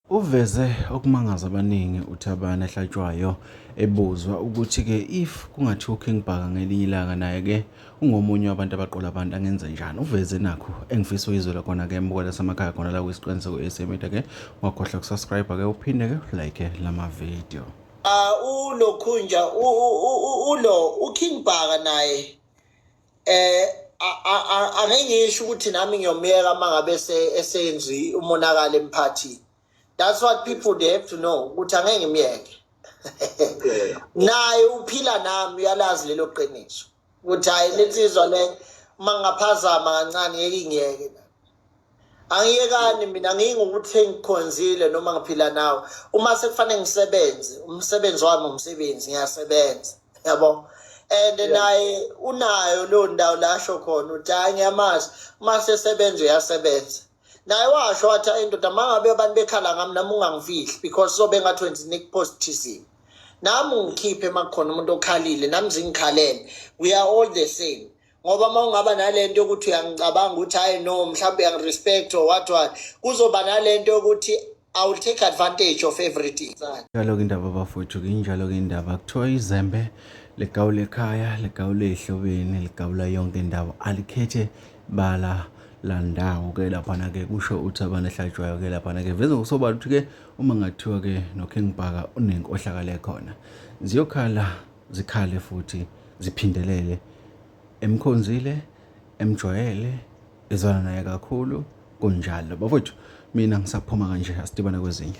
Uveze okumangaza abaningi uThabani ehlatshwayo ebuzwa ukuthi-ke if kungathiwa uKing Bhaka ngelinye ilanga naye-ke ungomunye wabantu abaqola abantu angenze njani. Uveze nakhu engifisa uyizwela khona-ke mbukela samakhaya khona la kwisiqiniseko e-SA Media-ke ungakhohlwa kusubscribe-ke uphinde-ke like lama video. Uh, ulokhunja ulo uKing Bhaka naye eh angengisho ukuthi nami ngiyomyeka mangabe esenzi umonakala emphathini that's what people they have to know ukuthi angeke ngimyeke naye uphila nami uyalazi lelo qiniso ukuthi hayi lensizwa le uma ngingaphazama kancane yeke ingiyeke angiyekani mina ngingukuthi ngikhonzile noma ngiphila nawe uma sekufanele ngisebenze umsebenzi wami umsebenzi ngiyasebenza yabo and naye unayo leyo ndawo lasho khona uthi hayi ngiyamazi uma sesebenza uyasebenza naye washo wathi hayi ndoda uma ngabe abantu bekhala ngami nami ungangifihli because sobe ngathi wenza nikupost thizini nami ungikhiphe uma kukhona umuntu okhalile nami zingikhalele we are all the same ngoba uma ungaba nale nto yokuthi uyangicabanga ukuthi hhayi no mhlawumbe uyangirespect or what what kuzoba nale nto yokuthi I will take advantage of everything. Njalo-ke indaba bafowethu nginjalo-ke indaba kuthiwa izembe ligawula ekhaya ligawula ehlobeni ligawula yonke indawo alikhethe bala landawo ke laphana ke kusho uthi abantu ehlatshwayo ke laphana ke veze ngokusobala ukuthi ke uma ngathiwa ke noKing Bhaka unenkohlakalo ekhona ziyokhala zikhale futhi ziphindelele emkhonzile emjwayele ezwana naye kakhulu kunjalo bafowethu mina ngisaphuma kanje asidibane kwezinye